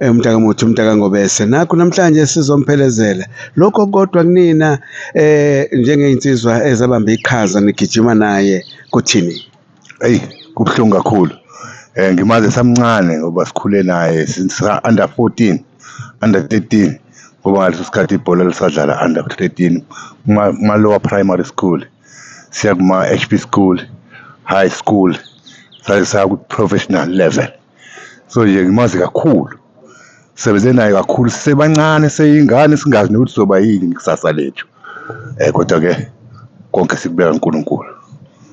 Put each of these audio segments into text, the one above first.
Eh, umntaka muthi umntaka ngobese nakho namhlanje sizomphelezela lokho kodwa kunina eh njengey'nsizwa ezabamba iqhaza nigijima naye kuthini eyi kubuhlungu kakhulu um ngimazi esamncane ngoba sikhule naye since under fourteen under thirteen ngoba ngaleso sikhathi ibhola lisadlala under thirteen kuma-lower primary school siya kuma-h p school high school saye saku-professional level so nje ngimazi kakhulu sebenze naye kakhulu sisebancane seyingane singazi nokuthi soba yini ngekusasa lethu um kodwa-ke konke sikubeka unkulunkulu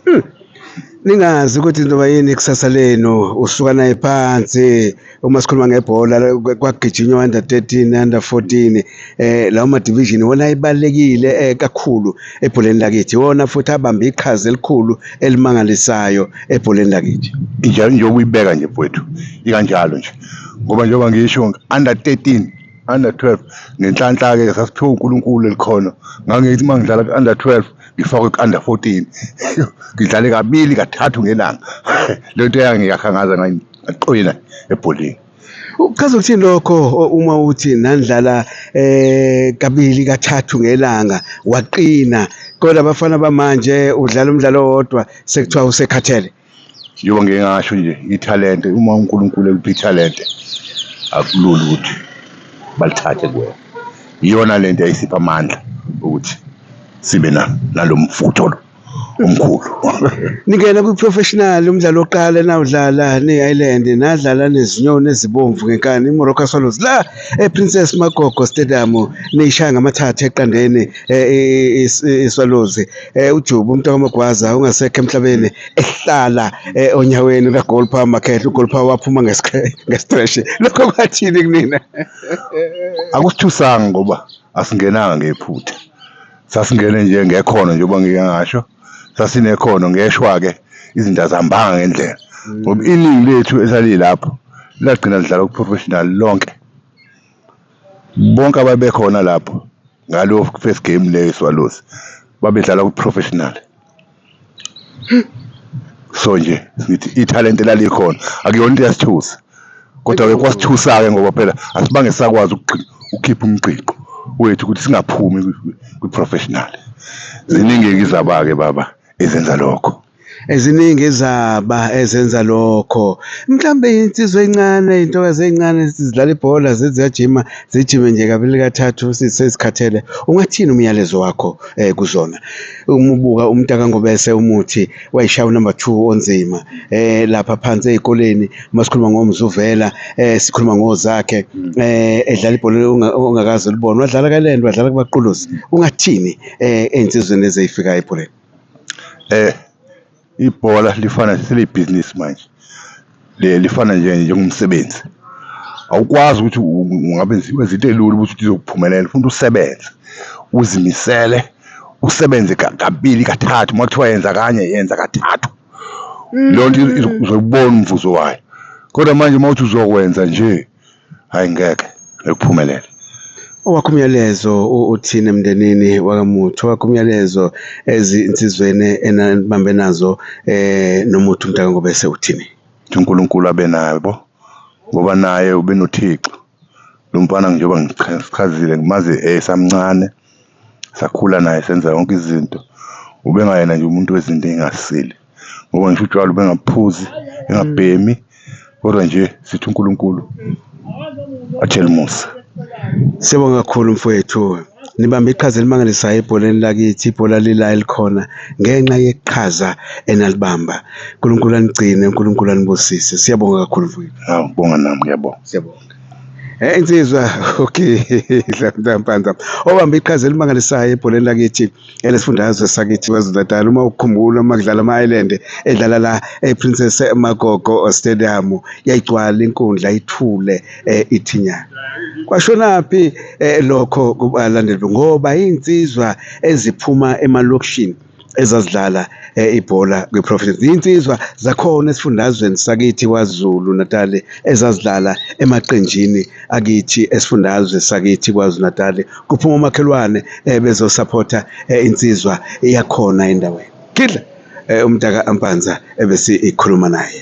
hmm. ningazi ukuthi ntoba yini ikusasa lenu usuka naye phansi uma sikhuluma ngebhola kwagijinywa under 13 under 14 eh lawo ma division wona ebalekile eh, kakhulu ebholeni lakithi wona futhi abambe iqhaza elikhulu elimangalisayo ebholeni lakithi injalo nje ukuyibeka nje mfowethu ikanjalo nje ngoba njengoba ngisho under 13 under 12 nenhlanhla ke sasiphiwa uNkulunkulu elikhona ngangithi mangidlala ku under 12 ngifakwe ku under 14 ngidlale kabili kathathu ngelanga lento eyangiyakhangaza ngayiqina ebholeni Uchaza ukuthini lokho uma uthi nandlala eh kabili kathathu ngelanga waqina kodwa abafana bamanje udlala umdlalo owodwa sekuthiwa usekhathele Yoba ngeke ngasho nje ithalente uma uNkulunkulu ekupha ithalente akulula ukuthi balithathe kuwena iyona lento eyisipha amandla ukuthi sibe nalo mfutho lo omkhulu ningena kwi-professional umdlalo wokuqala enawudlala ne-ireland nadlala nezinyoni ezibomvu ngenkani imorocco swallows la eprincess magogo stadium niyishaya ngamathathu eqandeni eh, iswallows eh, ujubu umntu kamagwaza ungasekho emhlabeni ehlala eh, onyaweni kagolpa makhehle ugolpa waphuma ngestresh lokho kwathini kunina akusithusanga ngoba asingenanga ngephutha sasingene nje ngekhono njengoba ngike ngasho sasinekhono ngeshwa-ke izinto azihambanga ngendlela ngoba iningi lethu esalilapho lagcina lidlala ku-professional lonke bonke ababekhona lapho ngalo first game leyo swalosi babedlala ku-professional so nje sithi ithalente lalikhona akuyona into yasithusa kodwa-ke kwasithusa-ke ngoba phela asibange sakwazi ukukhipha umgqigqo wethu ukuthi singaphumi kwi-professional ziningi-ke izaba-ke baba ezenza lokho eziningi izaba ezenza lokho mhlawumbe insizwa encane intokazi ey'ncane zidlala ibhola ziyajima zijime nje kabili kathathu sezikhathele ungathini umyalezo wakho um kuzona umubuka umntaka ngobese umuthi wayishaya unumber 2 onzima eh lapha phansi ezikoleni masikhuluma ngomzuvela eh sikhuluma ngozakhe eh edlala ibhola ongakazi ulibona wadlala kalento wadlala kubaqulusi ungathini eh ensizweni ezeyifika ebholeni eh Ibhola lifana selibhizinisi manje lifana nje njengomsebenzi awukwazi ukuthi ungabe wenza into elula ukuthi uzokuphumelela ufuna usebenze uzimisele usebenze kabili kathathu uma kuthiwa yenza kanye yenza kathathu mm. leyo nto uzobona umvuzo wayo kodwa manje uma uthi uzokwenza nje hayi ngeke ekuphumelele owakho umyalezo uthini emndenini wakamuthi owakho umyalezo ezinsizweni enanibambe nazo eh nomuthi umntaka ngobese uthini uNkulunkulu abe naye bo ngoba naye ubenothixo lo mfana njengoba ngichazile ngimazi esamncane sakhula naye senza yonke izinto ubengayena nje umuntu wezinto engasile ngoba ngisho utshwala bengaphuzi engabhemi kodwa nje sithi uNkulunkulu athele umusa Siyabonga kakhulu mfowethu. Nibambe iqhaza elimangalisayo ebholeni lakithi, ibhola lila elikhona ngenxa yeqhaza enalibamba. uNkulunkulu anigcine, uNkulunkulu anibusise. Siyabonga kakhulu mfowethu. Hawu ngibonga nami ngiyabonga. Siyabonga. Eh insizwa okay, Dlamdlampanza. Obambe iqhaza elimangalisayo ebholeni lakithi. elesifundazwe sakithi KwaZulu-Natal uma ukukhumbula uma kudlala ama-Ireland edlala la e-Princess Magogo Stadium yayigcwala inkundla ithule eh, ithinyana kwashonaphi eh, lokho kubalandeli ngoba iy'nsizwa eziphuma emalokishini ezazidlala eh, ibhola kwiProvidence insizwa zakhona esifundazweni sakithi kwaZulu Natal ezazidlala emaqenjini akithi esifundazwe sakithi kwaZulu Natal kuphuma umakhelwane eh, bezosupport eh, insizwa iyakhona endaweni kidla eh, umntaka ampanza ebese ikhuluma naye